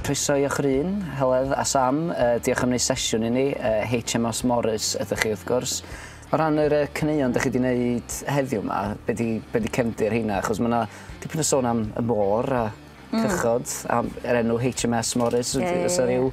Croeso i o'ch run, Heledd a Sam. Diolch am wneud sesiwn i ni. HMOs Morris ydych chi, wrth gwrs. O ran yr caneuon dych chi wedi wneud heddiw yma, be di, be di cefndir heina? Achos mae yna dipyn o sôn am y môr a cychod, mm. am yr enw HMS Morris. Yeah, yeah, yeah. Os yna rhyw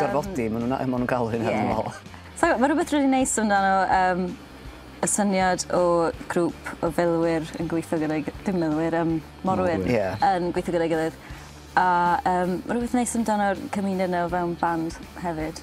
Gorfodi ma' nw'n a- ma' nw'n galw hynna dwi me'wl. Sai'm yn ma' rwbeth rili neis amdano yym y syniad o grŵp o filwyr yn gweitho gyda'i gy- dim milwyr yym morwyr. Morwyr. Ie. Yn gweitho gyda'i gilydd a yym ma' rwbeth neis amdano'r cymuned 'na o fewn band hefyd.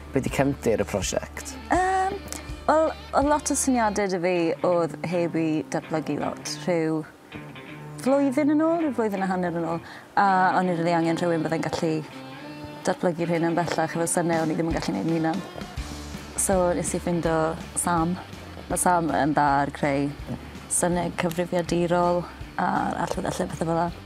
Be di cefndir y prosiect? Yym, wel, oedd lot o syniadau dy fi oedd heb i datblygu lot. Rhyw flwyddyn yn ôl, rhyw flwyddyn a hanner yn ôl, a o'n i rili angen rhywun byddai'n gallu datblygu'r hyn yn bellach efo syniau o'n i ddim yn gallu gwneud yn hunan. So nes i ffindo Sam. Mae Sam yn dda ar creu syniau cyfrifiadurol a'r allweddellau pethau fel yna.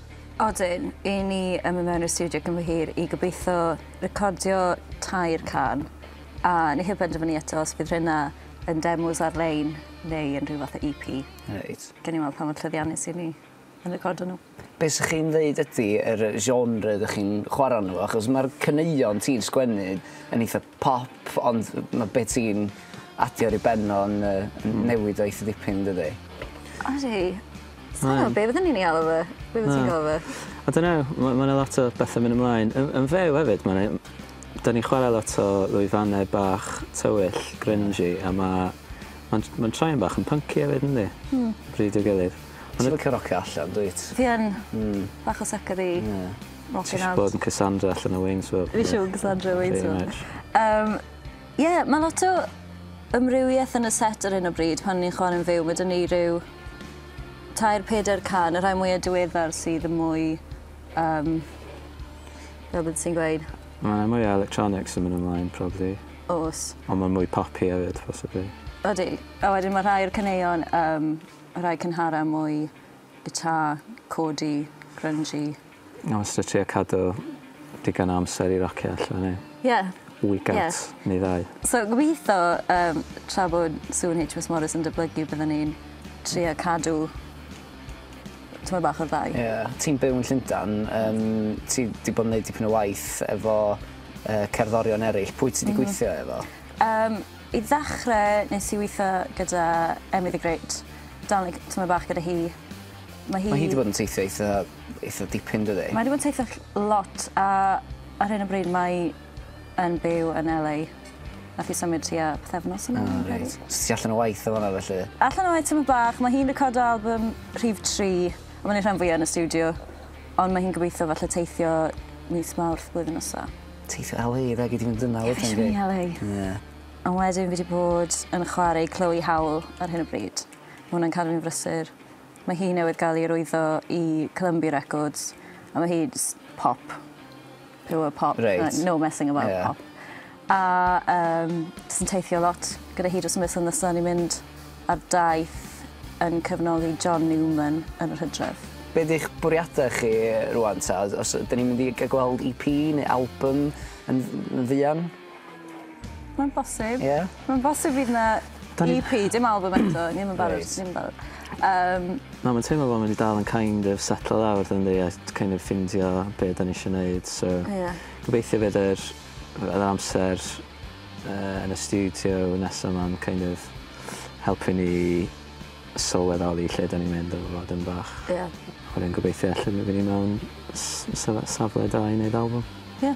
Odyn, i ni yn mynd mewn i'r stiwdio cyn bo hir i gobeitho recordio tair can, a ni heb benderfynu eto os bydd rheina yn demos ar-lein neu yn rhyw fath o EP. Reit. Gawn ni weld pa mor llwyddiannus i ni yn recordio nhw. Be' sy chi'n ddeud ydi yr genre 'dych chi'n chwara' arno fo achos ma'r caneuon ti'n sgwennu yn eitha Pop, ond ma' be' ti'n adio ar 'i ben o yn yy yn newid o eitha dipyn dydi? Ydi. Sai'n gwbo be' fydden i'n 'i alw fe. Be' wyt ti'n galw fe? I dunno ma' ma' 'na lot o betha myn' ymlaen. Yn yn fyw efyd ma' 'na un... 'dan ni'n chware lot o lwyfannau bach tywyll grungy a ma' ma'n j- ma'n troi'n bach yn pynci efyd yndi? Hmm. Bryd i'w gilydd. Ti licio rocio allan dwyt? Fi yn. Hmm. Bach o sycedi. Ie. Oce nawr... Ti isio bod yn Cassandra allan o Waynesville. Fi isio bod yn Cassandra o Waynesville. Pretty much. Yym ie ma' lot o amrywieth yn y set ar hyn o bryd pan ni'n chware'n fyw ma' 'da ni ryw tair peder can y rhai mwya diweddar sydd yn mwy yym fel byddet ti'n gweud? Ma' 'na mwy o electronics yn myn' ymlaen probably. O's. On' ma'n mwy popi efyd possibly. Odi. A wedyn ma' rhai o'r caneuon yym y rhai cynhara mwy guitar, chordey, grungy. O'n i wastad trio cadw digon o amser i rocio allan i... Ie. ...weekends. Ie. Neu ddau. So gobitho yym tra bod Sue yn HMS Morris yn dyblygu bydden ni'n trio cadw tymed bach o'r ddau. Ie. Ti'n byw yn Llundan yym ti 'di bod yn neud dipyn o waith efo yy cerddorion eryll pwy ti 'di gweithio efo? Yym i ddechre nes i witho gyda Emily the great darlun tymed bach gyda hi Ma' hi... Ma' hi 'di bod yn teithio eitha eitha dipyn dydi? Mae 'di bod yn teithio ll- lot a ar hyn o bryd mae 'i yn byw yn El Ay. Nath 'i symud tua pythefnos yn ôl fi'n credu. O reit. So ti allan o waith yn fan 'na felly? Allan o waith tymed bach ma' hi'n recordio albym rhif tri a ma' neud rhan fwya yn y stiwdio on' ma' hi'n gobeithio falle teithio mis Mawrth blwyddyn nesa. Teithio El Ay 'da gei di fynd yna wedyn yli. Fi isio myn' i El Ay. Ie. A wedyn fi 'di bod yn chware i Chloe Howell ar hyn o bryd. Ma' wnna'n cadw fi'n brysur. Mae hi newydd gael ei rwyddo i Columbia Records a mae hi jyst pop. Pure pop. Reit. No messing about yeah. pop. A um, jyst yn teithio lot gyda hi dros y misoedd nesaf. Ni'n mynd ar daith yn cyfnoli John Newman yn yr hydref. Be ydych bwriadau chi rwan ta? Os ydyn ni'n mynd i gael gweld EP neu album yn, yn fuan? Mae'n bosib. Ie? Mae'n bosib fydd 'na EP, dim albym eto, ni 'im yn barod, ni 'im yn barod. Yym. Na ma'n teimlo fel ma' 'di dal yn kind of setlo lawr dwn i a t- kind of ffindio be' 'dan ni isio neud so... Ie. ...gobeithio bydd yr yy yr amser yy yn y stiwdio nesa 'ma'n kind of helpu ni sylweddoli lle 'dan ni'n mynd efo fo dym bach. Ie. A wedyn gobeithio alle by' ni mewn s- syle- safle da i neud albym. Ie.